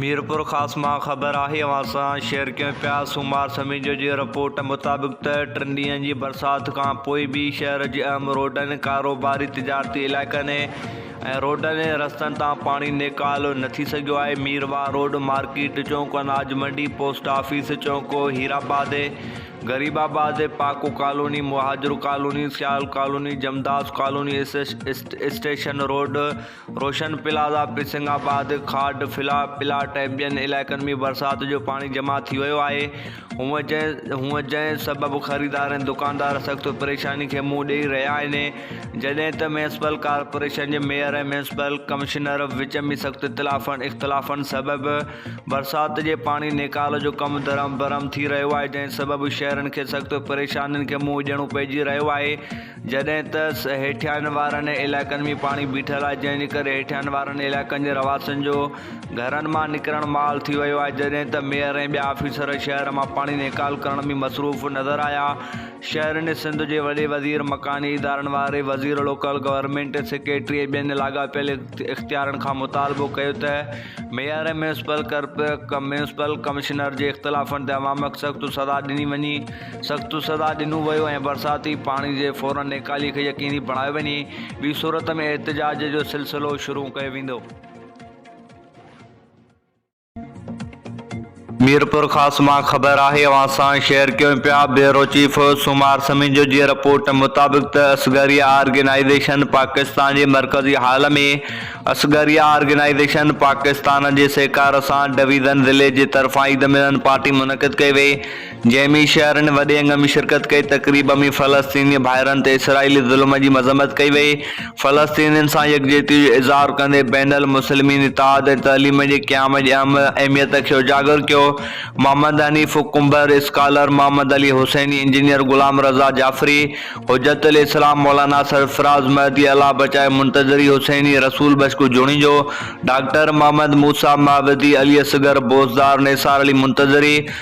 ميرپورخاص مان خبر آهي اوهان سان شيئر ڪيون پيا سومار سميجو جي رپورٽ مطابق ته ٽن ڏينهن جي برسات کان پوء به شهر جي اهم روڊن ڪاروباري تجارتي علائقن ۽ روڊن ۽ رستن تان پاڻي نيڪالو نه ٿي سگهيو آهي مير واهه روڊ مارڪيٽ چونڪ اناج منڊي پوسٽ آفيس چونڪو Hirabad Gharib Abad پاڪو colony Muhajir colony Sial colony جمداس colony station road Roshan plaza, پرسنگ آباد، کاڊ، فلا پلاٽ ۽ ٻين علائقن ۾ برسات جو پاڻي جمع ٿي ويو آهي، هونء جنهن سبب خريدار ۽ دڪاندار سخت پريشاني کي منهن ڏئي رهيا آهن، جڏهن ته ميونسپل ڪارپوريشن جي ميئر ۽ ميونسپل ڪمشنر وچ ۾ سخت اختلافن سبب برسات جي پاڻي نيڪال جو ڪم درهم برهم ٿي رهيو آهي، جنهن سبب شهرين کي سخت پريشانين کي منهن ڏيڻو پئجي رهيو آهي. جڏهن ته هيٺيان وارن علائقن ۾ پاڻي بيٺل آهي جنهن جي ڪري هيٺيان وارن علائقن جي رهواسين جو گهرن مان نڪرڻ محال ٿي ويو آهي جڏهن ته ميئر ۽ ٻيا آفيسر شهر مان پاڻي نيڪال ڪرڻ ۾ مصروف نظر آيا شهرين سنڌ جي وڏي وزير مڪاني ادارن واري وزير لوڪل گورنمينٽ سيڪريٽري ۽ ٻين لاڳاپيل اختيارن کان مطالبو ڪيو ته ميئر ۽ ميونسپل ڪمشنر جي اختلافن تي عوام سخت سزا ڏني وڃي سخت سزا ڏنو ويو ۽ برساتي پاڻي جي فورن نيڪالي کي يقيني بڻايو وڃي، ٻي صورت ۾ احتجاج جو سلسلو شروع ڪيو ويندو. ميرپورخاص مان خبر آهي اوهان سان شيئر ڪيون پيا بيورو چيف سومار سميجو جي رپورٽ مطابق ته اصغريه آرگنائيزيشن پاڪستان جي مرڪزي هال ۾ اصغريه آرگنائيزيشن پاڪستان جي سهڪار سان ڊويزن ضلعي جي طرفان عيد ملن پارٽي منعقد ڪئي وئي جنهن ۾ شهرين وڏي انگ ۾ شرڪت ڪئي، تقريب ۾ فلسطيني ڀائرن تي اسرائيلي ظلم جي مذمت ڪئي وئي، فلسطينين سان يڪجهتي جو اظهار ڪندي بين المسلمين اتحاد ۽ تعليم جي قيام جي اهم اهميت کي اجاگر ڪيو، محمد حنيف ڪنڀر، اسڪالر محمد علي حسيني، انجنيئر غلام رضا جعفري، حجت الاسلام مولانا سرفراز مهدي، الله بچايو منتظري حسيني، رسول بشڪو جوڻيجو، ڊاڪٽر محمد موسيٰ مابدي، علي اصغر بوزدار، نثار علي منتظري،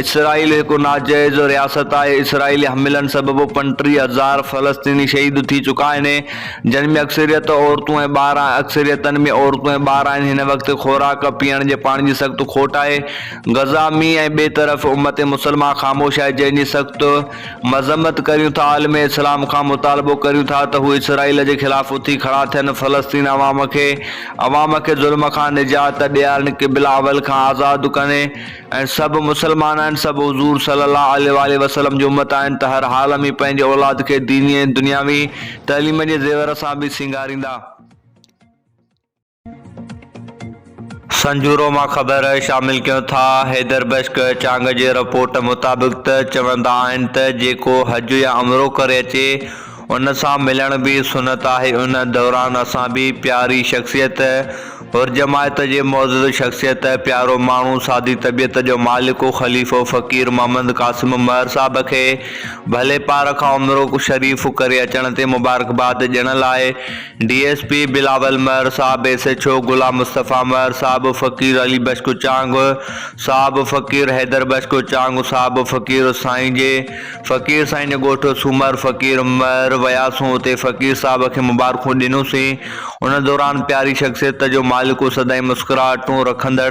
اسرائيل هڪ ناجائز رياست آهي، اسرائيلي حملن سبب پڻ ٽيهه هزار فلسطيني شهيد ٿي چڪا آهن، جن ۾ اڪثريت عورتون ۽ ٻار آهن، اڪثريتن ۾ عورتون ۽ ٻار آهن، هن وقت خوراڪ، پيئڻ جي پاڻي جي سخت کوٽ آهي، غزه ۾ ۽ ٻئي طرف امت مسلمه خاموش آهي، جنهن جي سخت مذمت ڪريون ٿا، عالم اسلام کان مطالبو ڪريون ٿا ته هو اسرائيل جي خلاف اٿي کڙا ٿين، فلسطين عوام کي عوام کي ظلم کان نجات ڏيارين، قبله اول کان آزاد ڪرين. ۽ سڀ مسلمان آهن، سڀ حضور صلّي اللّٰه عليه واٰله وسلّم جي امّت آهن ته هر حال ۾ پنهنجي اولاد کي ديني ۽ دنياوي تعليم جي زيور سان به سينگاريندا. سنجورو مان خبر شامل ڪيون ٿا. حيدر بشڪ چانگ جي رپورٽ مطابق ته چوندا آهن ته جيڪو حج يا عمرو ڪري اچي ان سان ملڻ به سنت آهي. ان دوران اسان به پياري شخصيت، حرجماعت جي معزز شخصيت، پيارو ماڻهو، سادي طبيعت جو مالڪ و خليفو فقير محمد قاسم مهر صاحب کي ڀلي پار کان عمر شريف ڪري اچڻ تي مبارڪباد ڏيڻ لاء D S P Bilawal Mahar صاحب، S H O Ghulam Mustafa Mahar صاحب، فقير علي بخش ڪچانگ صاحب، فقير حيدر بخش ڪچانگ صاحب، فقير سائين جي. فقير سائين جي ڳوٺ سومر فقير مھر وياسون اتي فقير صاحب کي مبارڪون ڏنوسين ان دوران پياري شخصيت جو مالڪ ھو سدائين مسڪراھٽون رکندڙ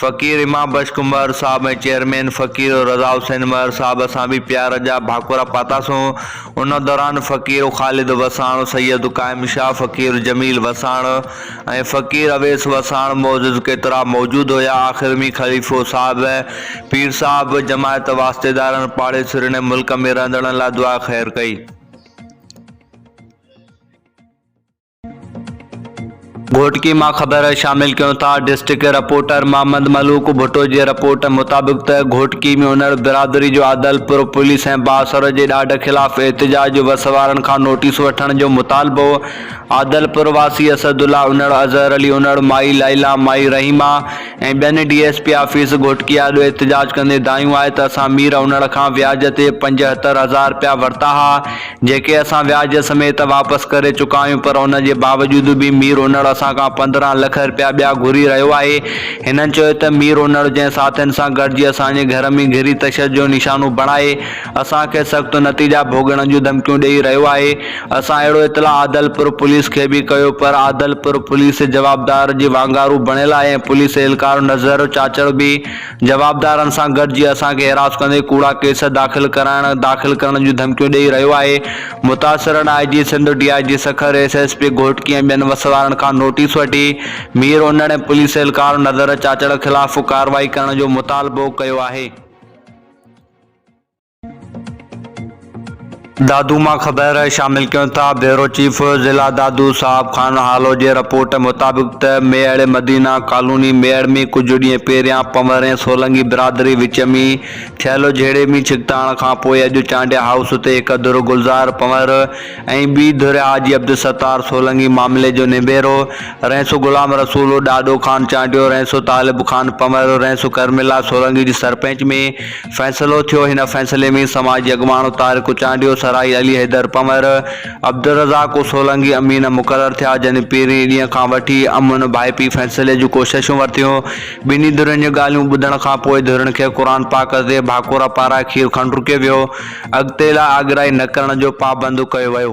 فقير امام بخش ڪنڀر صاحب ۽ چيئرمين فقير رضا حسين مھر صاحب سان به پيار جا ڀاڪورا پاتاسون ان دوران فقير خالد وساڻ سيد قائم شاھ فقير جميل وساڻ ۽ فقير اويس وساڻ معزز ڪيترا موجود هيا. آخر ۾ خليفو صاحب، پير صاحب، جماعت، واسطيدارن، پاڙيسرين ۽ ملڪ ۾ رهندڙن لاء دعا خير ڪئي. گهوٽڪي مان خبر شامل ڪيون ٿا. ڊسٽرڪٽ رپورٽر محمد ملوڪ ڀٽو جي رپورٽ مطابق ته گهوٽڪي ۾ انڙ برادري جو عادل پور پوليس ۽ بااثر جي ڏاڍ خلاف احتجاج جو وس وارن کان نوٽيس وٺڻ جو مطالبو عادلپور واسي اسد الله انڙ، اظهر علي انڙ، مائي لائلا، مائي رحيمه ۽ ٻين D S P office Ghotki آڏو احتجاج ڪندي دانهيون آهي ته اسان مير انڙ کان وياج تي پنجهتر هزار رپيا ورتا ها جيڪي اسان وياج سميت واپس ڪري چڪا آهيون پر ان جي باوجود به مير انڙ اسان کان پندرهن لک رپيا ٻيا گهري رهيو آهي هنن چيو ته مير انڙ جنهن ساٿين سان گڏجي اسان جي گهر ۾ گهري تشدد جو نشانو بڻائي اسان کي سخت نتيجا ڀوڳڻ جون ڌمڪيون ڏئي رهيو آهي، اسان اهڙو اطلاع عادلپور پوليس کي به ڪيو پر عادلپور پوليس جوابدار جي وانگارو بڻيل آهي ۽ پوليس اهلڪار نذر چاچڙ به جوابدارن سان گڏجي اسان کي هراس ڪندي ڪوڙا ڪيس داخل ڪرائڻ داخل ڪرڻ جون ڌمڪيون ڏئي رهيو آهي، متاثرن I G Sindh, D I G Sukkur, S S P Ghotki ۽ ٻين وسوارن کان نوٽيس وٺي مير انڙ ۽ پوليس اهلڪار نذر چاچڙ خلاف ڪارروائي ڪرڻ جو مطالبو ڪيو آهي. دادو مان خبر شامل ڪيون ٿا بيورو چيف ضلع دادو صاحب خان هالو جي رپورٽ مطابق ته ميڙ مدينه ڪالوني ميڙ ۾ ڪجهه ڏينهن پهريان پنور ۽ سولنگي برادري وچ ۾ ٿيل جهيڙي ۾ ڇڪتاڻ کان پوء اڄ چانڊيا هائوس تي هڪ ڌر گلزار پنور ۽ ٻي ڌر حاجي عبدالستار سولنگي معاملي جو نبيرو رئيس غلام رسول ڏاڏو خان چانڊيو رئيس طالب خان پنور رئيس ڪرملا سولنگي جي سرپنچ ۾ فيصلو ٿيو. هن فيصلي ۾ سماج جي اڳواڻ طارق چانڊيو، سرائي علي حيدر پنور، عبدالرزاق و سولنگي امين مقرر ٿيا، جن پهرين ڏينهن کان وٺي امن ڀائپي فيصلي جون ڪوششون ورتيون. ٻنهي ڌرين جون ڳالهيون ٻڌڻ کان پوء ڌرين کي قرآن پاڪ تي ڀاڪورا پارائي کير کڻ رڪيو ويو. اڳتي لاء آگرائي نه ڪرڻ جو پابند ڪيو ويو.